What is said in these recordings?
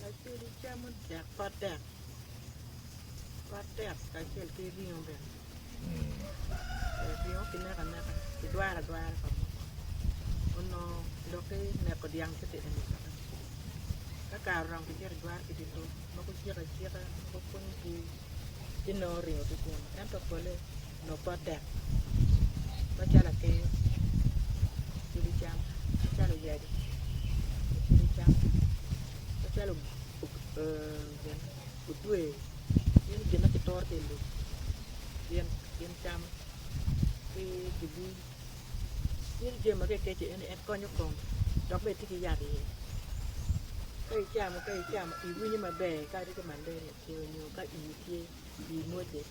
Lacwe ni camo dek pot dek pot dek kacel ki ringo bene ringo ki neko aneka ki dwaro adwara pa munu onongo dok ki neko dyang ki tedo nyo coka ni ka kare oromo ki cito ki dwaro ki dye lum mogo cik acika mogo pwonyo bur ci nongo ringo ki kunu ento pole Lobot dek macalo atir, kicibo cam macalo oyadi, kicibo cam macalo odwe gin gin ma kituro ki i lum gin cam ki kibi gin jami ma ka ikeco en konyo kom dok bene tye ki yat iye ka icamo iwinyo maber kadi ki malaria onyo ka ii tye ii mwocce.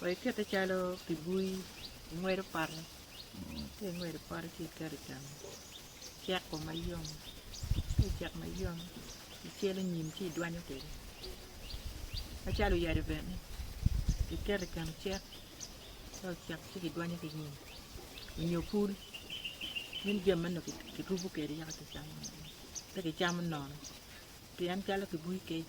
Wa ikete calo pi bui, ingwedo pote, ka ingwedo pote ci iketo i keno, ceko mayom, ka ocek mayom ci icelo nyim ci idwanyo kwede macalo oyadi bene kiketo i keno cek, ka ocek ci kidwanyo ki nyim nyo pul, meno jami ma nongo kirubo kwede yaka kicamo, pe kicamo nono pien calo pi bui kec.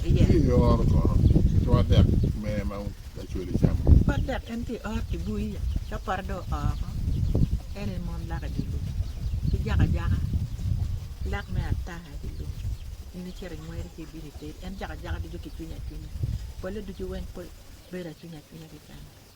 Tye i oro kono ki twat dek mere ma lacwele camo. Twat dek en tye i oro ki bui ya ka pote dong oo oko en aye mon lak i dye lum ki jako ajaka lak me ataa i dye lum in icito ingweri ci ibino iteri en jako ajaka ducu kicwinyo acwinya pole ducu weng bedo acwinya acwinya keken.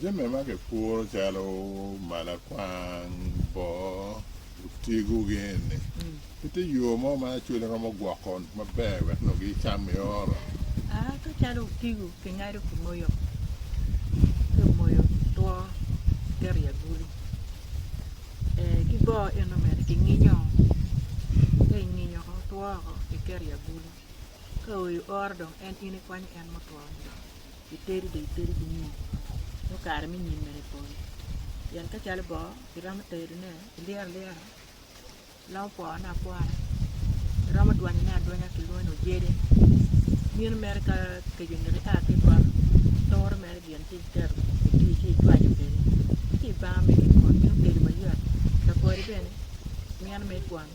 Jami ma kipuro calo malakwang, boo, otigo gin ni pe tye yo mo ma lacwale romo gwoko maber wek nongo gi cam i oro. Aa ka calo otigo ki ngado ki moyo ki moyo two ki keto i agulu ee ki boo eno bene ki nginyo ka inginyo two woko ki keto i agulu. Ka oyo oro dong en in ikwanyo en mutwo ni dong itedi dong itedi ki nyom nyo kare me nyimme ni pol pien ka calo bongo iromo tedone ilyero alyera iromo pwone apwona iromo dwanyone adwanya kilwongo ni ojede mino mere ka keco nino ia ki i poto ituro mere gin ci itedo iti ci icwanyo kwede ci ibano mere ipwony meno tedo mayot lapwode bene mino mere ikwano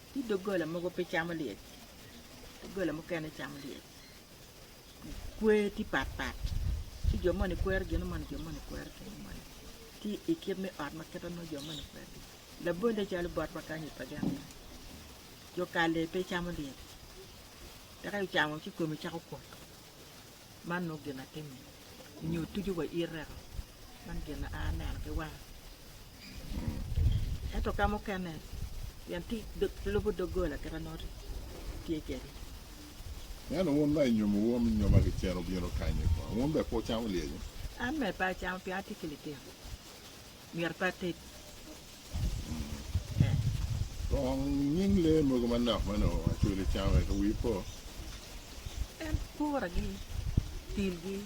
Ci doggola mogo pe camo lyec, doggola mukene camo lyec. Kwer tye pat pat, ci jo moni kwero gin moni, jo moni kwero gin moni. Tye i kit me ot ma kit ma nongo jo moni kwero gin. Labolle calo bot ma kany i paganna, jo kalle pe camo lyec, dok ka ocamo ci kome cako kwot. Man nongo gin atimo nyo tucu wa ireko man gin a aneno ki wanga ento ka mukene pien tic lubo dogola kit anongo tye kede. Eno wun ma inyomo wom inyoma ki cen wubino kanyi kong, wun bene pe wucamo lyecci? An bene pe acamo pien atye ki litino. myero pe ated. Kong nying lee mogo manok ma onongo Acholi camo wek wi po? En puragi, tilgi,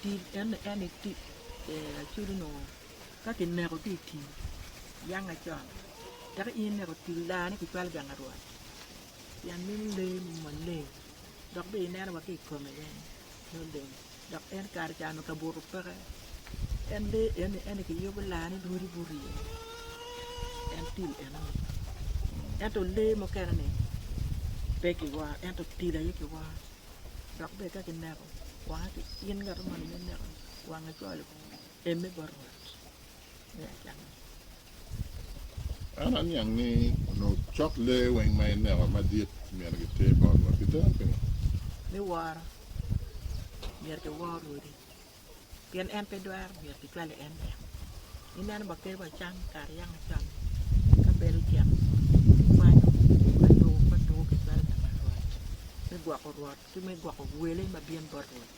til en en ni til Acholi onongo ka kineko ki i tim yang acon teka in ineko til daa ni kicwalo gang arwat pien meno lee maleng dok bene ineno wa ki i kome bene nongo leng. Dok en kare ca onongo kabuto peke, en lee eni en kiyubo laa ni lwodi burye, en til enoni. Ento lee mukene-ni pe kiworo ento til aye kiworo. Dok bene ka kineko wange, in ngat ma onongo ineko wange cwalo emme bot Rwot. En aniang ni onongo cok lee weng ma eneko madit myero giter bot Rwot. Giteren pingo? Me woro, myero giwor Rwodi. Pien en pe dwero, myero gicwale en lek. Ineno ba kadi wa can kare yaka macon ni, ka bel ocito, kikwanyo ka tuku ka tuku kicwalo pi wat Rwot, me gwoko Rwot ki me gwoko wele ma bino bot Rwot.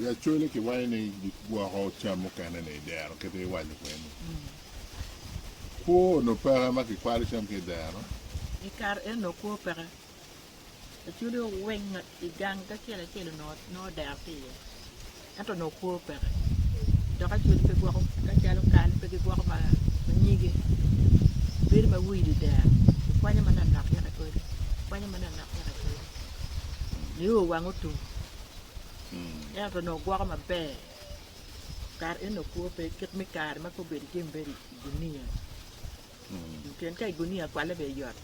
I Acholi kiwaco ni gwoko cam mukene ni i dero kite iwaco kwede ni kwo onongo peke ma kikwalo cam ki i dero. I kare eno onongo kwo peke. Acholi oweng i gang acel acel onongo dero tye iye ento onongo kwo peke dok Acholi pe gwoko ka calo kal pe gigwoko ma nyige bedo ma wide dero kikwanyo manok yaka kodi kikwanyo manok yaka kodi nio wang otum. ento onongo gwoko maber kara en onongo kwo pe kit me kare ma kong obedo jami bedo i gunia pien ka i gunia kwale bene yot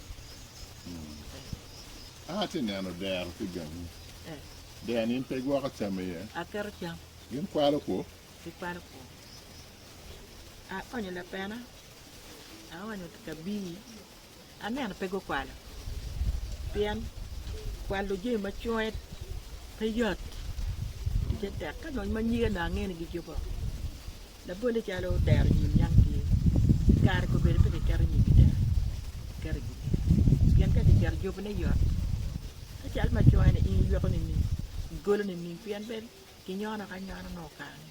An atye neno dero ki gangi. eh, Dero-ni in pe igwoko cam iye? aketo cam Gin kwalo kwo? gikwalo kwo aonyo lapena aonyo kabii aneno pe gukwalo pien kwalo jami ma cwonge pe yot ticce tek ka dong ma nyige onongo angeyo ni gijuko labolle calo dero nyim yam tye kare kobedo pe kiketo nyim i dero kiketo i gudo pien ka kiketo jubone yot ka cal ma cwonge ni in iyweko nining igolo nining pien pe kinyono ki anyona nongo kare ni.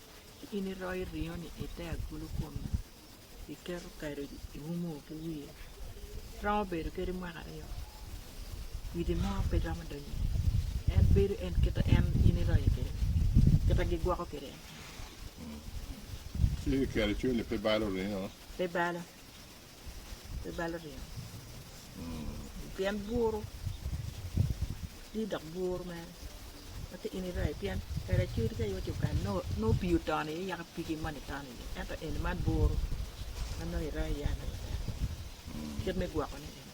Ci in iroyo ringo-ni i te agulu kome, iketo kado iumo ki wiye. Romo bedo kadi mwaka aryo, kwidi mo pe romo donyo iye. En bedo en kite en in iroye kwede-ni, kite gigwoko kwede en. Ci kiketo cwinyi pe balo ringo? Pe balo. pe balo ryemo pien bwur tye dok bwur mere ma ka in irayo pien kare acel tye ka yot coo kare nongo nongo pii otono iye yaka pigi moni tono iye ento eni man bwur ma nongo irayo iye alaya bene kit me gwokone eni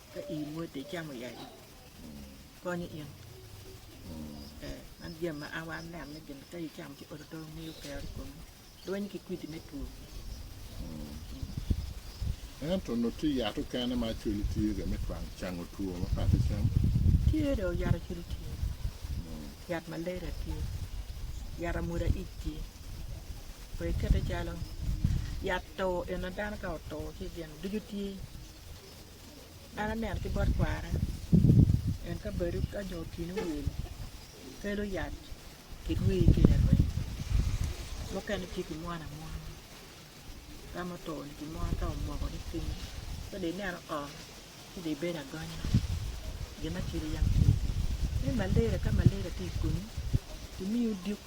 Ka ii moti icamo yayu konyo in ee man jami ma an aneno ni gin ka icamo ci oto oto miyo kero i komi dwonyo ki kwidi me two. Ento onongo tye yat okene ma acwele tye kwede me twang cango two ma peya atecamo? Tye dong yat acwele tye, yat malaria tye, yat amwoda ic tye, pe ikete calo yat two eno dano ka oto ci gin ducu tye. An aneno ki bot kwara en ka badi ka nyo otino wil kelo yat kirwir ki iye rweny mukene tye kimwono amwona ka ma oto-ni kimwono ka omoko ni piny ci dong ineno oo ci dong ibedo agonya gin ma cwinyi yam tye iye me malaria ka malaria tye i kumi kimiyo diko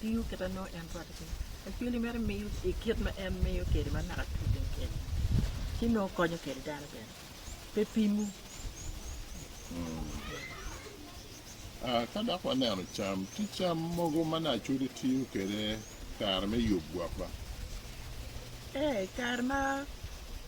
tiyo kit ma nongo en rwatte kwede. Lacweli mere miyo i kit ma en miyo kwede ma naka tye piny kwede, ci nongo konyo kwede dano bene, pe pimo. Ah, ka dok waneno cam, tye cam mogo ma naka cwali tiyo kwede kare me yub gwok ba? Ee, i kare ma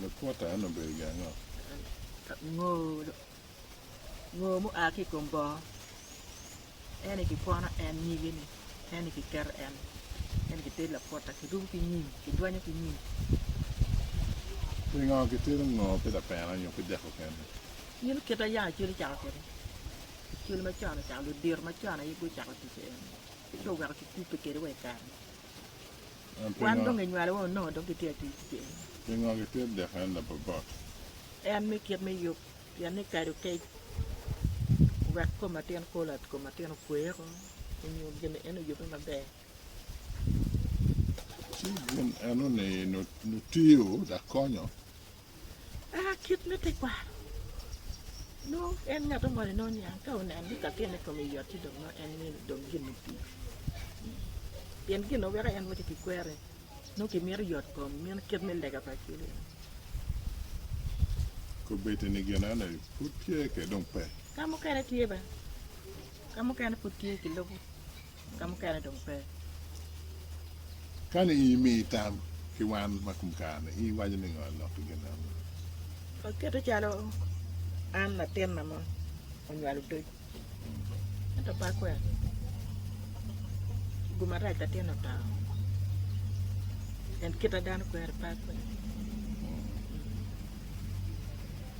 Lukuta eno obedo gin ango? Ngo mu a ki ikom bongo eni ki kwono en nyige ni eni ki keto en eni ki tedi lakuta ki rubu ki nyim ki dwanyo ki nyim. Pingo ki tedi ngo pi lapena nyo pi deko kene? In kit ma yam icwalo cako kwede cwalo macon ocako ludito macon aye gucako ticce eni ci oweko ki kubbe kwede wa ikare ni. Wan dong enywalowa onongo dong gitye ka tic kwede. Pingo gitye deko en labobot? En me kit me yub, pien ni kado kec wek kom atin kula, kom atin okwe oko onyo gin en oyube maber. Ci gin eno ni nutiyo dok konyo Eka kit me tekwaro nongo en ngat ongone nongo niang ka oneno ni kakene kome yot ci dong nongo en mini dong gin otii pien gin ma weko en waco ki kwere nongo kimito yot kom meno kit me lega pa acwele eno. Kobedi ni gin eno pud tye kede dong pe. Ka mukene tye bene, ka mukene pud tye kilubo. ka mukene dong pe. Kani in imiyi tam ki wan ma kum kare-ni, in iwaco ni ngo lok ki gin ma amol? Akete calo an latin ma ma onywalo odoc, ento pe akwero. Gum arac latinna oto, en kite dano kwero pe akwero.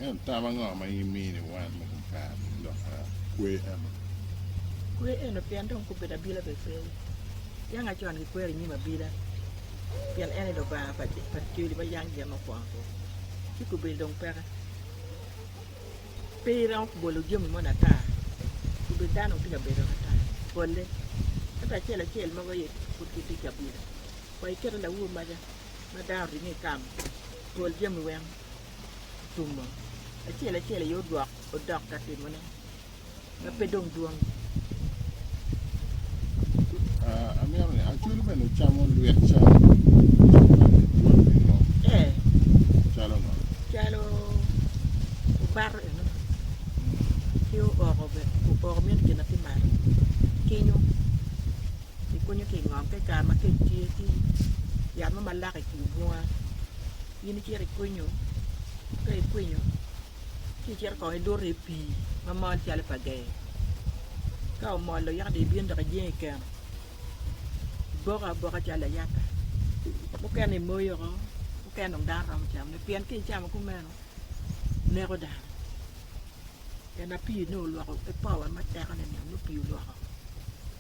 Ento tam ango ma in imini wan ma gukato i lok pa kwe eno? Kwe eno pien dong gubedo abila bene pe. Dyang acon gikwero i nyim abila, pien en ene lubanga pa joli ma yang gin mo kwongo-gu, ci gubedo dong peke. Pe iromo bolo jami moni ata, gubedo dano dong tye ka bedo ata bolle. Ento acel acel mogo aye pud gitye ki abila. Wa iketo laur maca ma dano oringo i kamo pol jami weng otumo acel acel aye odwok odok ka timone ma pe dong dwong. Ah, amito ni acwalo bene ocamo lwet cam Ee, calo ngo calo obato enoni ki ooko bene, ooko meno kine ki malo, kinyo. Kikunyo ki i ngom ka i kare ma kec tye, ci yat mo malak i kin bunga in icito ikwinyo, ka ikwinyo ci icito kong iluto i pii ma mol calo pa gee, ka omol-lo yaka dong ibino dok ijing i keno, iboko aboka calo layata, mukene imoyo oko, mukene dong dano romo camone pien ka icamo kumeno neko dano, pien ma pii-ni olwoko ki power ma teko-ni nongo pii olwoko.